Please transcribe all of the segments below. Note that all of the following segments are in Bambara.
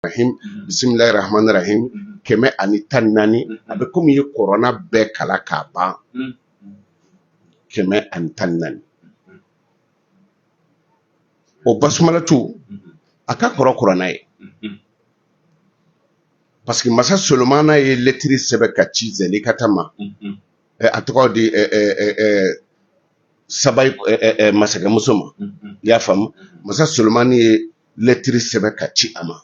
rahim bisimilahi rahman rahim kɛmɛ ani tan ni naani a bɛ komi i ye kurana bɛɛ kalan k'a ban kɛmɛ ani tan ni naani o basumalatu a ka kɔrɔ kurana ye parce que masa solomana ye lɛtiri sɛbɛn k'a ci zɛlikata ma Eh, a tɔgɔ di eh, eh, eh, eh, sabayi eh, eh, eh, masakɛmuso ma i y'a faamu masa solomani ye lɛtiri sɛbɛn k'a ci a ma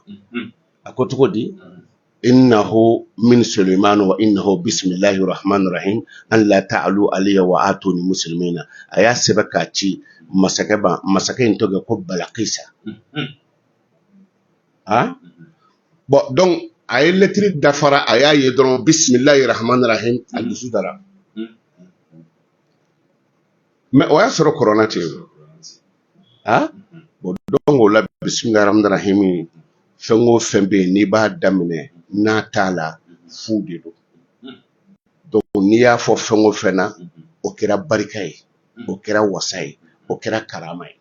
a ko cogo di innahu min sulayman wa innahu bisimilahi rahman rahim an la ta'alu alayya wa atuni musilimina a y'a sɛbɛn k'a ci masakɛ masakɛ in tɔgɔ ko balakisa aa bon donc a ye lɛtiri da fara a y'a ye dɔrɔn bisimilahi rahman rahim a dusu dara mais o y'a sɔrɔ kurana tɛ yen a bon donc o la bisimilahi rahman rahim fɛn o fɛn bɛ yen n'i b'a daminɛ n'a t'a la fu de don donc n'i y'a fɔ fɛn o fɛn na o kɛra barika ye o kɛra wasa ye o kɛra karama ye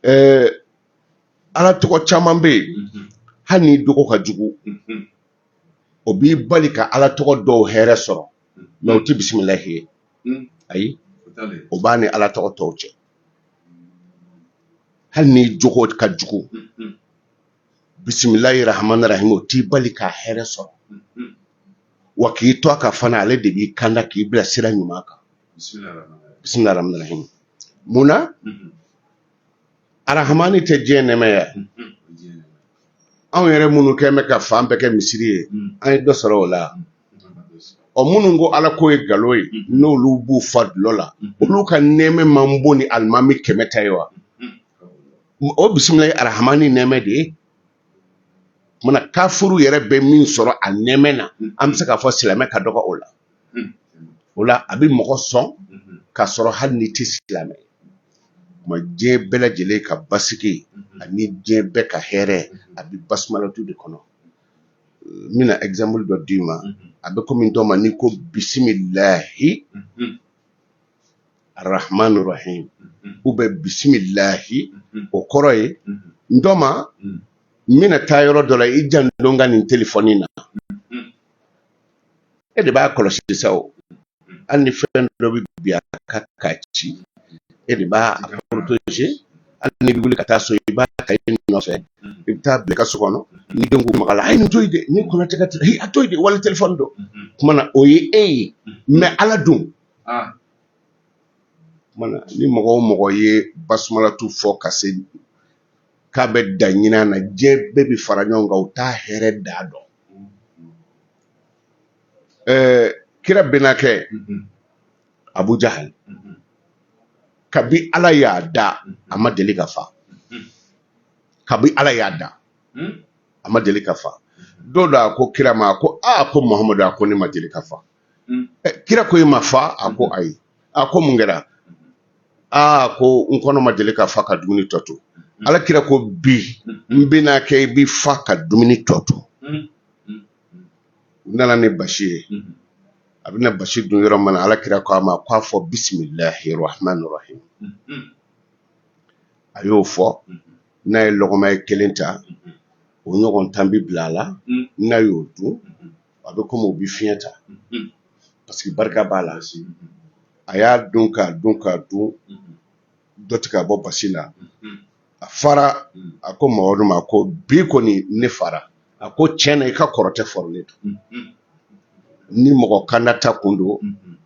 ɛɛ ala tɔgɔ caman bɛ yen hali n'i jogo ka jugu o b'i bali ka ala tɔgɔ dɔw hɛrɛ sɔrɔ mais u tɛ bisimilahi ye ayi o b'a ni ala tɔgɔ tɔw cɛ hali n'i jogo ka jugu bisimilahi rahman rahim o t'i bali k'a hɛrɛ sɔrɔ wa k'i to a ka fana ale de b'i kanda k'i bila sira ɲuman kan bisimilahi rahman rahim munna arahamani tɛ diɲɛ nɛmɛ ya anw yɛrɛ minnu kɛn bɛ ka fan bɛɛ kɛ misiri ye an ye dɔ sɔrɔ o la ɔ minnu ko ala ko ye galon ye n'olu b'u fa dulɔ la olu ka nɛmɛ man bon ni alimami kɛmɛ ta ye wa o bisimilahi arahamani nɛmɛ de ye Kuma na kafuru yɛrɛ bɛ min sɔrɔ a nɛmɛ na an bɛ se k'a fɔ silamɛ ka dɔgɔ o la o la a bɛ mɔgɔ sɔn ka sɔrɔ hali n'i tɛ silamɛ ma diɲɛ bɛɛ lajɛlen ka basigi ani diɲɛ bɛɛ ka hɛrɛ a bɛ basumalatu de kɔnɔ n bɛna exemple dɔ d'i ma a bɛ komi n tɔma n'i ko bisimilahi arahman rahim ou bien bisimilahi o kɔrɔ ye n tɔma n bɛna taa yɔrɔ dɔ la i janto n ka nin telefɔni na e de b'a kɔlɔsi sa o hali ni fɛn dɔ bɛ bin a kan k'a ci e de b'a protéger hali n'i bɛ wuli ka taa so i b'a ta i nɔfɛ i bɛ taa bila i ka so kɔnɔ ni den ko maga a la a ye nin to yen dɛ ni kɔnɔ tɛ ka tɛ a to yen dɛ wali telefɔni don kuma na o ye e ye mais ala dun ni mɔgɔ o mɔgɔ ye basumalatu fɔ ka se k'a bɛ da ɲin na diɲɛ bɛɛ bɛ fara ɲɔgɔn kan u t'a hɛrɛ da dɔn kira bɛnakɛ abu jahal kabi ala y'a da a ma deli ka fa kabi ala y'a da a ma deli ka fa don dɔ a ko kira ma ko aa ko muhamadu a ko ne ma deli ka fa mm. eh, kira ko i ma fa a ko mm-hmm. ayi a ko mun kɛra aa ko n kɔnɔ ma deli ka fa ka dumuni tɔ to mm-hmm. ala kira ko bi mm-hmm. n bɛna kɛ i bi fa ka dumuni tɔ to u nana ni basi ye a bɛna basi dun yɔrɔ min na ala kira ko a ma ko a fɔ bisimilahi rahmani rahim a y'o fɔ n'a ye lɔgɔma ye kelen ta o ɲɔgɔn tan bɛ bila a la n'a y'o dun a bɛ komi u bɛ fiɲɛ ta parce que barika b'a la a y'a dun k'a dun k'a dun dɔ tɛ ka bɔ basi la a fara a ko mamadu ma ko bi kɔni ne fara a ko tiɲɛ na i ka kɔrɔtɛ fɔrɔlen don ni mɔgɔ kanda ta kun don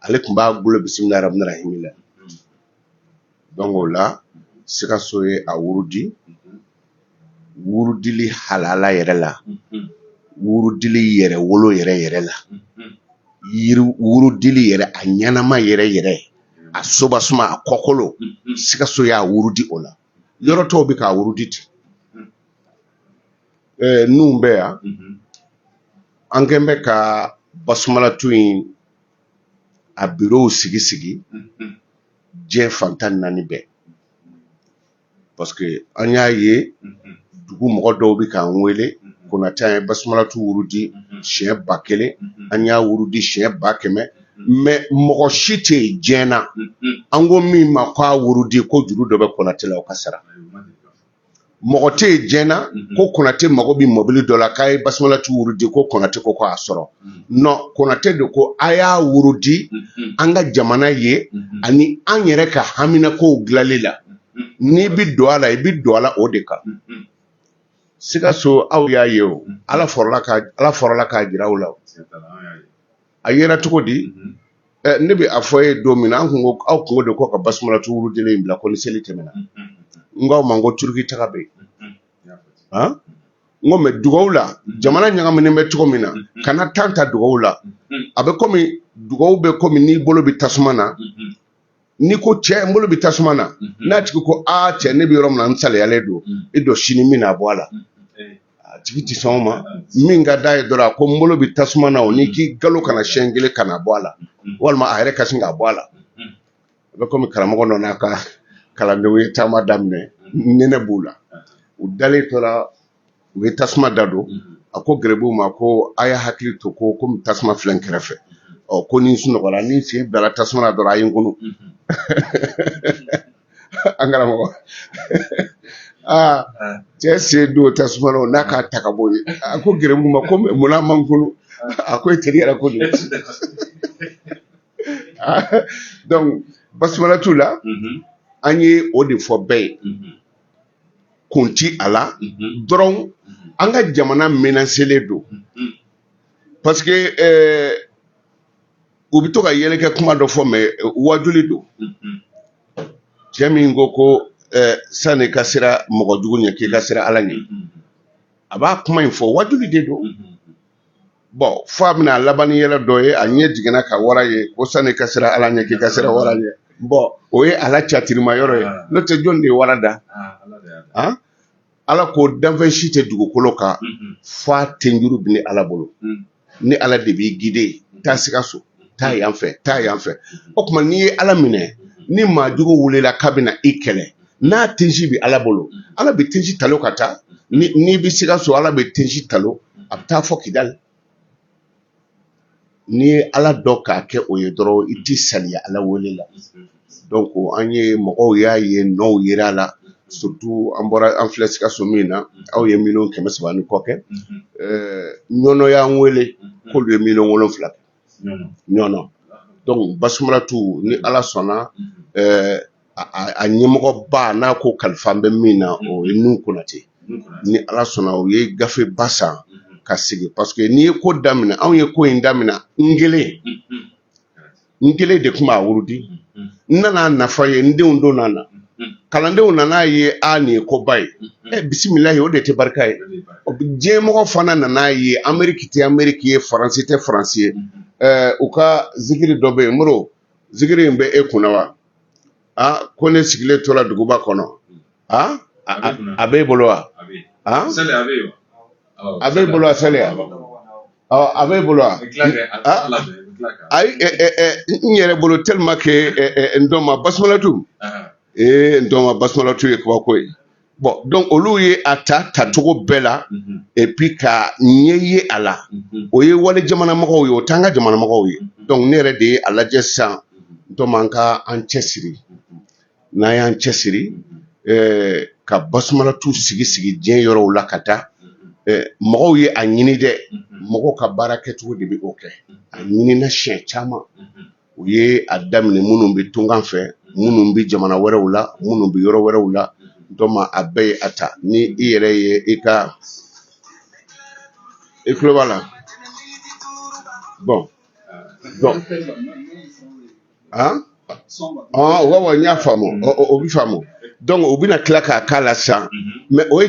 ale tun b'a bolo bisimilahi rahmani rahimi la donc o la sikaso ye a wurudi wurudili halala yɛrɛ la wurudili yɛrɛ wolo yɛrɛ yɛrɛ la wurudili yɛrɛ a ɲɛnama yɛrɛ yɛrɛ a soba suma a kɔkolo sikaso y'a wurudi o la yɔrɔ tɔw bɛ k'a wurudi ten ɛɛ ninnu bɛ yan an kɛn bɛ ka basumalatu in a birow sigi sigi diɲɛ fan tan naani bɛɛ parce que an y'a ye dugu mɔgɔ dɔw bɛ k'an wele konatɛ an ye basumalatu wurudi siɲɛ ba kelen an y'a wurudi siɲɛ ba kɛmɛ mais mɔgɔ si tɛ yen diɲɛ na an ko min ma k'a wurudi ko juru dɔ bɛ konatɛ la o ka sara mɔgɔ tɛ yen diɲɛ na mhm. ko konatɛ mago bɛ mɔbili dɔ la k'a ye basumalatu wurudi ko konatɛ ko k'a sɔrɔ mhm. non konatɛ de ko a y'a wurudi mhm. an ka jamana ye ani an yɛrɛ ka haminakow dilanli la n'i bɛ don a la i bɛ don a la o de kan sikaso aw y'a ye o ala fɔrɔla k'a jira aw la a yera cogo di ne bɛ a fɔ ye don min na an tun ko aw kun ko de ko ka basumalatu wurudili in bila ko ni seli tɛmɛna n k'aw ma n ko turuki taga bɛ yen n ko mais dugawu la jamana ɲagaminen bɛ cogo min na kana tan ta dugawu la a bɛ kɔmi dugawu bɛ kɔmi n'i bolo bɛ tasuma na n'i ko cɛ n bolo bɛ tasuma na n'a tigi ko aa cɛ ne bɛ yɔrɔ min na n saliyalen don e dɔ sini min na bɔ a la a tigi tɛ sɔn ma min ka da ye dɔrɔn a ko n bolo bɛ tasuma na o ni k'i galo kana siɲɛ kelen kana bɔ a la walima a yɛrɛ ka sin k'a bɔ a la a bɛ komi karamɔgɔ dɔ n'a ka kalandenw ye taama daminɛ nɛnɛ b'u la u dalen tora u ye tasuma da don a ko gɛrɛbuw ma ko a y'a hakili to ko komi tasuma filɛ n kɛrɛfɛ ɔ ko ni n sunɔgɔra ni n sen bilala tasuma na dɔrɔn a ye n kunu an karamɔgɔ aa cɛ sen don tasuma na o n'a k'a ta ka bɔ yen a ko gɛrɛbuw ma ko mun na a ma n kunu a ko e teri yɛrɛ ko don donc basumalatu la an ye o de fɔ bɛɛ ye kun ti a la dɔrɔn an ka jamana menaselen don parce que euh, u bɛ to ka yɛlɛkɛ kuma dɔ fɔ mɛ euh, wajuli don cɛ min ko ko euh, sani ka sira mɔgɔ jugu ɲɛ k'i ka sira ala ɲɛ a b'a kuma in fɔ wajuli de don bɔn fɔ a bɛna laban ni yɛlɛ dɔ ye a ɲɛ jiginna ka wara ye ko sani ka sira ala ɲɛ k'i ka sira wara ɲɛ bɔn o ye ala catirima yɔrɔ ye n'o tɛ jɔn de ye wara da ala ko danfɛn si tɛ dugukolo kan f'a tenjuru bɛ ni ala bolo ni ala de b'i gide taa sikaso taa yan fɛ taa yan fɛ o tuma n'i ye ala minɛ ni maajugu wulila k'a bɛna i kɛlɛ n'a tensi bɛ ala bolo ala bɛ tensi talo ka taa n'i bɛ sikaso ala bɛ tensi talo a bɛ taa fɔ kidali n'i ye ala dɔn k'a kɛ o ye dɔrɔn i tɛ saliya ala wele la donc an ye mɔgɔw y'a ye nɔw yera a la surtout an bɔra an filɛ sikaso min na aw ye miliyɔn kɛmɛ saba ni kɔ kɛ ɲɔnɔ y'an wele k'olu ye miliyɔn wolonwula ɲɔn donc basumalatu ni ala sɔnna a ɲɛmɔgɔba n'a ko kalifa bɛ min na o ye nuhu konatɛ ni ala sɔnna u ye gafe ba san ka sigi parce que n'i ye ko daminɛ anw ye ko in daminɛ n kelen n kelen de tun b'a wurudi n nana nafa ye n denw donna kalandenw nana ye aa nin ye koba ye ɛ bisimilahi o de tɛ barika ye diɲɛmɔgɔ fana nana ye ameriki tɛ ameriki ye faransi tɛ faransi ye u ka zikiri dɔ bɛ yen mori zikiri in bɛ e kun na wa ko ne sigilen tora duguba kɔnɔ a b'e bolo wa a b'e bolo wa sali a b'e bolo wa ayi n yɛrɛ bolo tellement que n dɔnma basumalatu ee n dɔnma basumalatu ye kabako ye bɔn dɔnku olu ye a ta tacogo bɛɛ la epi ka ɲɛ ye a la o ye wali jamanamɔgɔw ye o t'an ka jamanamɔgɔw ye dɔnku ne yɛrɛ de ye a lajɛ sisan n tɔma an ka an cɛ siri n'an y'an cɛ siri eh, ka basumalatu sigi sigi diɲɛ yɔrɔw la ka taa eh, mɔgɔw ye a ɲini dɛ mɔgɔw ka baara kɛcogo de bɛ o kɛ a ɲinina siɲɛ caman u ye a daminɛ minnu bɛ tunkan fɛ minnu bɛ jamana wɛrɛw la minnu bɛ yɔrɔ wɛrɛw la n tɔma a bɛɛ ye a ta ni i yɛrɛ ye i ka i tulo b'a la bɔn bɔn wa y'a faamu o bɛ faamu dɔnku u bɛna tila k'a k'a la sisan mɛ o ye